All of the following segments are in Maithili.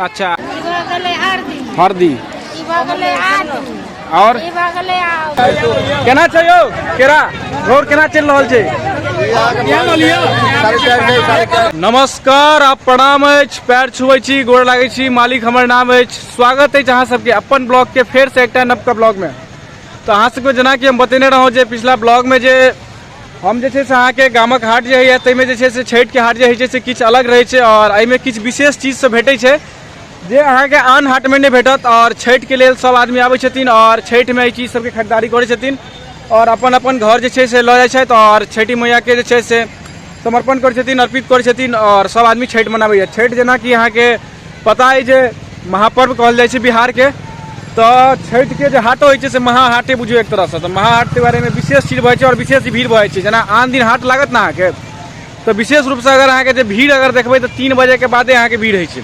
अच्छा हरदी और केना छै यौ केरा रोड केना चलि रहल छै नमस्कार आप प्रणाम अछि पैर छुए छी गोड़ लागै छी मालिक हमर नाम अछि स्वागत अछि अहाँ सबके अपन ब्लॉग के फेर से एकटा नवका ब्लॉग में तो अहाँ सबके जेना कि हम बतेने रहौं जे पिछला ब्लॉग में जे हम जे छै से अहाँके गामक हाट जे होइए ताहिमे जे छै से छठिके हाट जे होइ छै से किछु अलग रहै छै आओर एहिमे किछु विशेष चीजसभ भेटै छै जे अहाँके आन हाटमे नहि भेटत आओर छठिके लेल सभ आदमी आबै छथिन आओर छठिमे एहि चीज सभके खरीदारी करै छथिन आओर अपन अपन घर जे छै से लऽ जाइ छथि आओर छठि मैयाके जे छै से समर्पण करै छथिन अर्पित करै छथिन आओर सभ आदमी छठि मनाबैए छठि जेनाकि अहाँके पता है जे महापर्व कहल जाइ छै बिहारके तऽ छठिके जे हाटो होइ छै से महाहाटे बुझियौ एक तरहसँ तऽ महाहाटके बारेमे विशेष चीज भऽ जाइ छै आओर विशेष भीड़ भऽ जाइ छै जेना आन दिन हाट लागत ने अहाँके तऽ विशेष रूपसँ अगर अहाँके जे भीड़ अगर देखबै तऽ तीन बजेके बादे अहाँके भीड़ होइ छै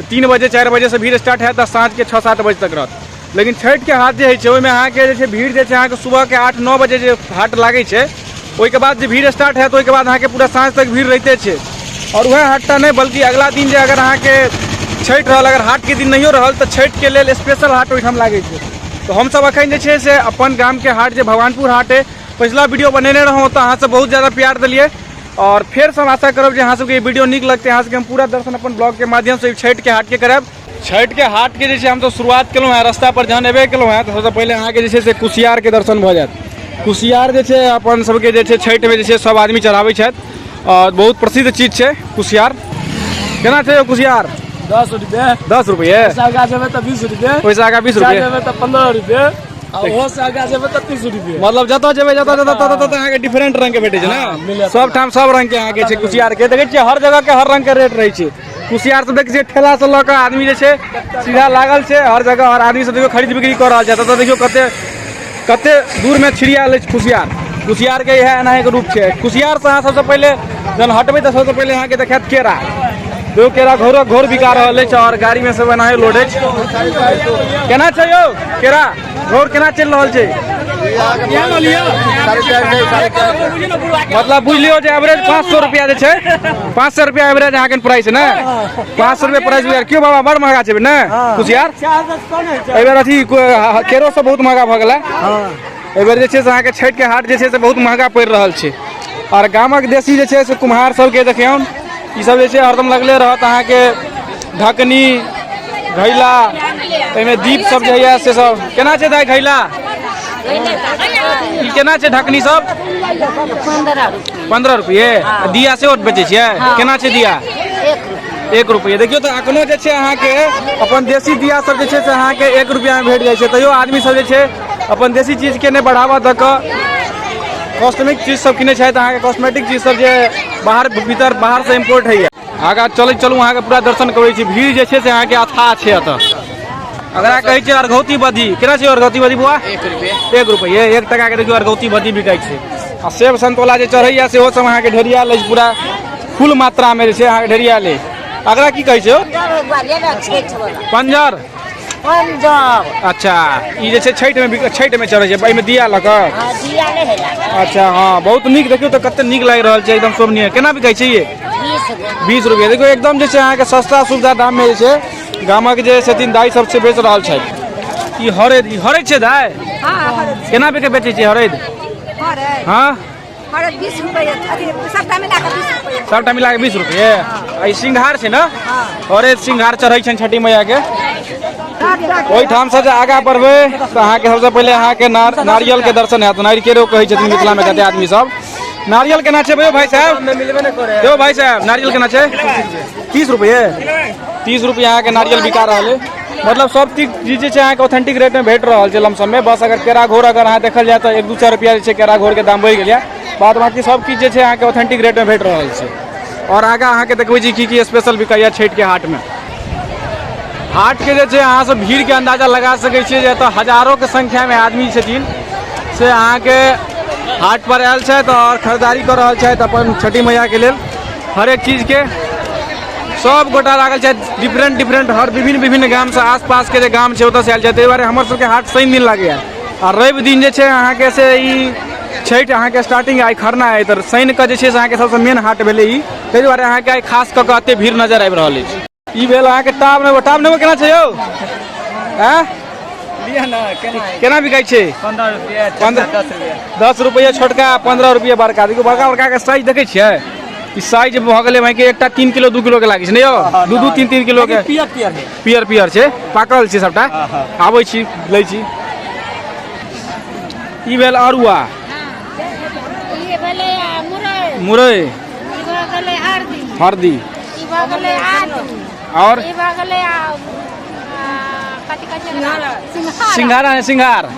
तीन बजे चारि बजेसँ भीड़ स्टार्ट हैत आ साँझके छओ सात बजे तक रहत लेकिन छठिके हाट जे होइ छै ओहिमे अहाँके जे छै भीड़ जे छै अहाँके सुबहके आठ नओ बजे जे हाट लागै छै ओहिके बाद जे भीड़ स्टार्ट हैत ओहिके बाद अहाँके पूरा साँझ तक भीड़ रहिते छै आओर वएह हाटटा नहि बल्कि अगिला दिन जे अगर अहाँके छठि रहल अगर हाटके दिन नहियो रहल तऽ छठिके लेल स्पेशल हाट ओहिठाम लागै छै तऽ हमसभ एखन जे छै से अपन गामके हाट जे भगवानपुर हाट अइ पछिला वीडियो बनेने रहौँ तऽ अहाँसभ बहुत ज्यादा प्यार देलियै आओर फेरसँ हम आशा करब जे अहाँसभके ई वीडियो नीक लगतै अहाँसभके हम पूरा दर्शन अपन ब्लॉगके माध्यमसँ ई छठिके हाटके करायब छठि के हाट के जैसे हम तो शुरुआत केलहुँ हैं रास्ता पर जहन एबे केलहुँ हैं तो सबसे पहले अहाँ के जैसे से कुशियार के दर्शन भऽ जायत कुशियार जे छै अपन सबके जे छै छठि में जे छै सब आदमी चढ़ाबै छथि और बहुत प्रसिद्ध चीज छै कुशियार केना छै यौ कुशियार दस रुपये दस रुपये पैसा आगा जेबै तऽ बीस रुपये ओहिसँ आगा बीस रुपये जेबै तऽ पंद्रह रुपये आ ओहो से आगा जेबै तऽ तीस रुपये मतलब जतऽ जेबै जतऽ जतऽ ततऽ ततऽ अहाँके डिफरेंट रंग के भेटै छै हाँ, ने मिलत। सब ठाम सब रंग के अहाँके छै कुशियार के देखै छियै हर जगह के हर रंग के रेट रहै छै कुशियार से देखिए ठेला से लऽ आदमी जे छै सीधा लागल छै हर जगह हर आदमी से देखियो खरीद बिक्री कर रहल छै एतऽ देखियो कते कते दूर में छिड़ियाल अछि कुशियार कुशियार के इएह एनाही के रूप छै कुशियार से अहाँ सबसे पहले जन हटबे तऽ सबसे पहले अहाँ के देखायत केरा देखियो केरा घोरो घोर बिका रहल अछि और गाड़ी में सब एनाही लोड अछि केना छै यौ केरा रोड केना चलि रहल छै मतलब बुझ लियो जे एवरेज पाँच सौ रुपया जे छै पाँच सौ रुपया एवरेज अहाँ के प्राइस ने पाँच सौ रुपया प्राइस बुझार क्यों बाबा बड़ महंगा छै ने कुशियार एहि बेर अथी केरो सब बहुत महंगा भऽ गेला एहि बेर जे छै से अहाँके छठिके हाट जे छै से बहुत महंगा पड़ि रहल छै आओर गामक देशी जे छै से कुम्हार सबके देखियौन ई सब जे छै हरदम लगले रहत अहाँके ढकनी घैला ताहिमे दीप सब जे होइए से सब केना छै दाइ घैला ई केना छै ढकनी सब पंद्रह रुपये आ दिया सेहो बेचै छियै केना छै दिया एक रुपये देखियौ तऽ अखनो जे छै अहाँके अपन देसी दिया सब जे छै से अहाँके एक रुपया मे भेट जाइ छै तैयो आदमी सब जे छै अपन देसी चीजके नहि बढ़ावा दऽ कऽ कॉस्मेटिक चीज सब किनै छथि अहाँके कॉस्मेटिक चीज सब जे बाहर भीतर बाहर से इम्पोर्ट होइए आगा चलैत चलू अहाँके पूरा दर्शन करबै छी भीड़ जे छै से अहाँके अथाह छै एतऽ अगरा कहै छै अर्घौती बदी केना छै अर्घौती बदी बुआ एक रुपये एक रुपये एक टका के देखियो अर्घौती बदी बिकाइ छै आ सेब संतोला जे चढ़ैया सेहो सब अहाँके ढेरिया लै पूरा फुल मात्रा में जे छै अहाँके ढेरिया ले अगरा की कहै छै पंजर अच्छा ई जे छै छठिमे छठिमे चढ़ै छै एहिमे दिया लऽ कऽ अच्छा हाँ बहुत नीक देखियौ तऽ कतेक नीक लागि रहल छै एकदम शोभनीय केना बिकाइ छै ये बीस रुपैआ देखियौ एकदम जे छै अहाँके सस्ता सुविधा दाममे जे छै गामक जे छथिन दाइ सब से बेच रहल छथि ई हरैद ई हरैद छै दाइ केना बेके बेचै छियै हरैद हाँ हमारा बीस रुपए अथी सबटा मिला के बीस रुपए सबटा मिला के बीस रुपये आ ई सिंघार छै ने अरे सिंघार चढ़ै छनि छठी मैया के ओहिठाम से जे आगाँ बढ़बै तऽ अहाँके सबसँ पहिले अहाँके नार नारियल के दर्शन हैत नारियल केरो कहै छथिन मिथिला मे कते आदमी सब नारियल केना छै यौ भाई साहब यौ भाई साहब नारियल केना छै तीस रुपये तीस रुपये अहाँके नारियल बिका रहल है मतलब सब चीज चीज जे छै अहाँके ऑथेंटिक रेट में भेट रहल छै लमसम में बस अगर केरा घोर अगर अहाँ देखल जाय तऽ एक दू चारि रुपया जे छै केरा घोर के दाम बढ़ि गेल बाद बाकी सब चीज जे छै अहाँके ऑथेंटिक रेट में भेट रहल छै और आगे अहाँके देखबै छी की की स्पेशल बिकाइया छठि के हाट में हाट के जे छै अहाँ सब भीड़ के अंदाजा लगा सकै छियै जे एतऽ हजारों के संख्या में आदमी छथिन से अहाँके हाट पर आयल छथि और खरीदारी कर रहल छथि अपन छठी मैया के लेल हरेक चीज के सब गोटा लागल छै डिफरेंट डिफरेंट हर विभिन्न विभिन्न गाम से आसपास के जे गाम छै ओतऽ से आयल छै ताहि दुआरे हमर सबके हाट शनि दिन लागैया आ रवि दिन जे छै अहाँके से ई छठि अहाँके स्टार्टिंग आइ खरना अइ तऽ शनि कऽ जे छै से अहाँके सबसँ मेन हाट भेलै ई ताहि दुआरे अहाँके आइ खास कऽ कऽ एते भीड़ नजर आबि रहल अछि ई भेल अहाँके टाब नेबो टाब नेबो केना छै यौ आँय लिअ ने केना केना बिकाइ छै पंद्रह रुपया पंद्रह- दस रुपया दस रुपैआ छोटका पंद्रह रुपैआ बड़का देखियौ बड़का बड़का के साइज देखै छियै ई साइज भऽ गेलै भाई के एकटा तीन किलो दू किलो के लागै छै ने यौ हाँ, दू दू तीन तीन किलो के पियर पियर है पियर पियर छै पाकल छै सबटा हाँ, हाँ। आबै छी लै छी ई भेल अरुआ ये भले आ, मुरई मुरई ई भऽ गेलै हरदी हरदी ई भऽ गेलै आलू और ई भऽ गेलै आ, आ, कथी कहै छै एकरा? सिंघाड़ा सिंघारा है सिंघार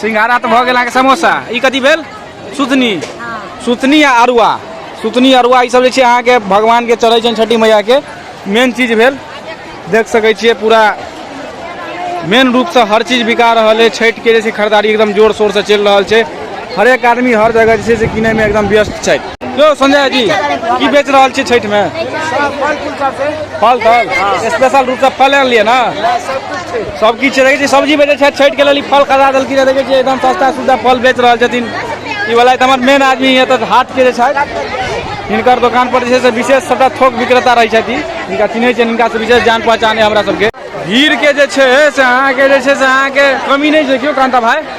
सिंघारा तऽ भऽ गेल अहाँके समोसा ई कथी भेल सुथनी सुथनी आ अरुआ सुथनी अरुआ ई सब जे छै अहाँके भगवानके चढ़ै छनि छठी मैयाके मेन चीज भेल देख सकै छियै पूरा मेन रूपसँ हर चीज बिका रहल है छठिके जे छै खरीदारी एकदम जोर शोरसँ चलि रहल छै हरेक आदमी हर जगह जे छै से किनैमे एकदम व्यस्त छै यौ संजय जी की बेच रहल छी छठिमे फल फल स्पेशल रूपसँ फल आनलियै ने सब किछ रहै छै सब्जी बेचै छैथ छैठ के लेल ई फल खरीदा देलखिन हें देखै छियै एकदम सस्ता सुस्ता फल बेच रहल छथिन ई वाला तऽ हमर मेन आदमी य तऽ हाट के जे छैथ हिनकर दोकान पर जे छै से विशेष सबटा थोक विक्रेता रहै छथि हिनका चिन्है छियनि हिनका से विशेष जान पहचान य हमरा सबके भीड़ के जे छै से अहाँके जे छै से अहाँके कमी नहि छै केओ कान्ता भाई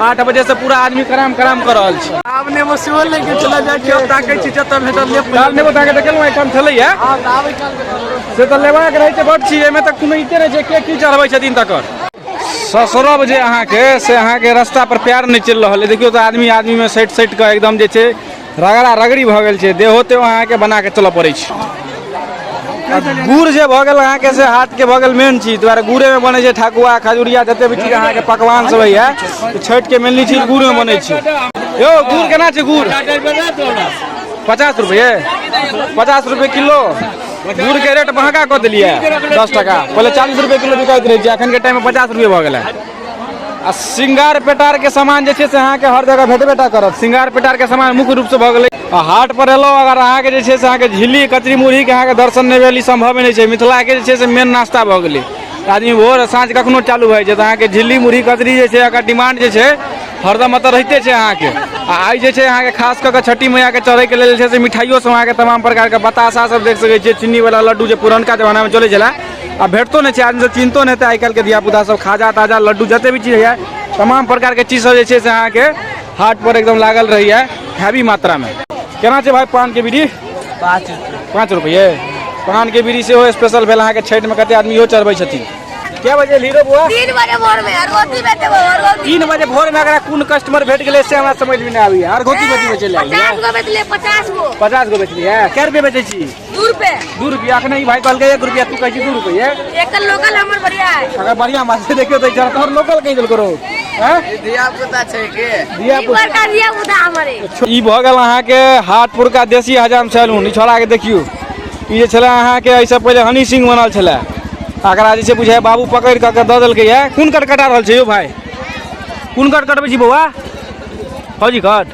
आठ बजे से पूरा आदमी कराम कराम कर रहल छी आब ने वो सेहो ले के चला जाय के ताके छी जत भेटल ले काल ने ताके त केलौ एकम छलै या हां आबै काल से त लेबा के रहै छै बड छी एमे त कोनो इते नै छै के की चढ़बै छथिन तकर ससुरब जे अहाँके से अहाँके रास्ता पर प्यार नहि चलि रहल है देखियौ तऽ आदमी आदमीमे सटि सटि कऽ एकदम जे छै रगड़ा रगड़ी भऽ गेल छै देहो तेहो अहाँके बना कऽ चलऽ पड़ै छै आ गुड़ जे भऽ गेल अहाँके से हाथके भऽ गेल मेन चीज दुआरे गुड़ेमे बनै छै ठकुआ खजुरिया जते भी चीज अहाँके पकवान सब होइए तऽ छठिके मेनली चीज गुड़मे बनै छै यौ गुड़ केना छै गुड़ पचास रुपये पचास रुपये किलो गुड़के रेट महगा कऽ देलियै दस टाका पहिले चालीस रुपये किलो बिकाइत रहै छै एखनके टाइममे पचास रुपये भऽ गेलै आ श्रृंगार पेटारके सामान जे छै से अहाँके हर जगह भेटबे टा करत श्रृंगार पेटारके सामान मुख्य रूपसँ भऽ गेलै आ हाट पर एलहुँ अगर अहाँके जे छै से अहाँके झिल्ली कचरी मुरहीके अहाँके दर्शन नहि भेल ई सम्भवे नहि छै मिथिलाके जे छै से मेन नाश्ता भऽ गेलै आदमी भोर आ साँझ कखनो चालू भऽ जाइ छै तऽ अहाँके झिल्ली मुरही कचरी जे छै एकर डिमांड जे छै हरदम एतऽ रहिते छै अहाँके आ आइ जे छै अहाँके खास कऽ कऽ छठी मैयाके चढ़ैके लेल जे छै से मिठाइयो सब अहाँके तमाम प्रकारके बताशा सब देख सकै छियै चीनी वाला लड्डू जे पुरनका जमानामे चलै छलै आ भेटतो नहि छै आदमी सब चिन्हतो नहि हेतै आइ काल्हिके धियापुता सब खाजा ताजा लड्डू जते भी चीज होइए तमाम प्रकारके चीज सब जे छै से अहाँके हाट पर एकदम लागल रहैए हैवी मात्रामे केना छै भाई पानके बीड़ी पाँच पाँच रुपये पानके बीड़ी सेहो स्पेशल भेल अहाँके छठिमे कते आदमी इहो चढ़बै छथिन क्या बजे हीरो बुआ तीन बजे भोर में और रोटी बेटे वो और रोटी तीन बजे भोर में अगर कोन कस्टमर भेट गेलै से हमरा समझ में नहि आबैए आर गोटी गोटी में चलि आइए पचास गो बेचले पचास गो पचास गो बेचलियै कए रुपये बेचै छी दू रुपए दू रुपया के नहीं भाई कल के एक रुपया तू कह दू रुपया एक लोकल हमर बढ़िया है अगर बढ़िया माछ से देखियो तो जरा तोहर लोकल कह देल करो हैं दिया पुता छै के दिया पुता का दिया पुता हमरे ई भ गेल अहाँ के हाटपुर का देसी हजाम सैलून ई छोड़ा के देखियो ई जे छले अहाँ के ऐसे पहले हनी सिंह बनल छले अकरा जे छै बुझाय बाबू पकड़ क के द देलकै है कोन कट कटा रहल छै यो भाई कोन कट कटबै छी बौआ फौजी कट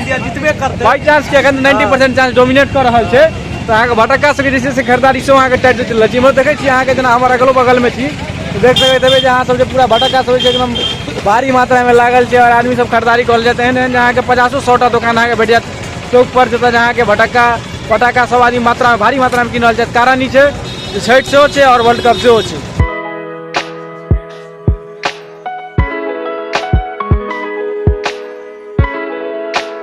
इंडिया जितबे करतै बाई चांस के अखन 90% चांस डोमिनेट कर रहल छै तऽ अहाँके भटक्का सके जे छै से खरीदारी सेहो अहाँके टाइट चलि रहल छै इम्हर देखै छी अहाँके जेना हमर अगलो बगलमे छी तऽ देख सकैत हेबै जे अहाँ सब जे पूरा भटक्का सब छै एकदम भारी मात्रामे लागल छै आओर आदमी सब खरीदारी कऽ लेत एहन एहन जे अहाँके पचासो सौटा दोकान अहाँके भेट जायत चौक पर जतऽ जे अहाँके भटक्का पटाखा सब आदमी मात्रामे भारी मात्रामे कीन रहल छथि कारण ई छै जे छठि सेहो छै आओर वर्ल्ड कप सेहो छै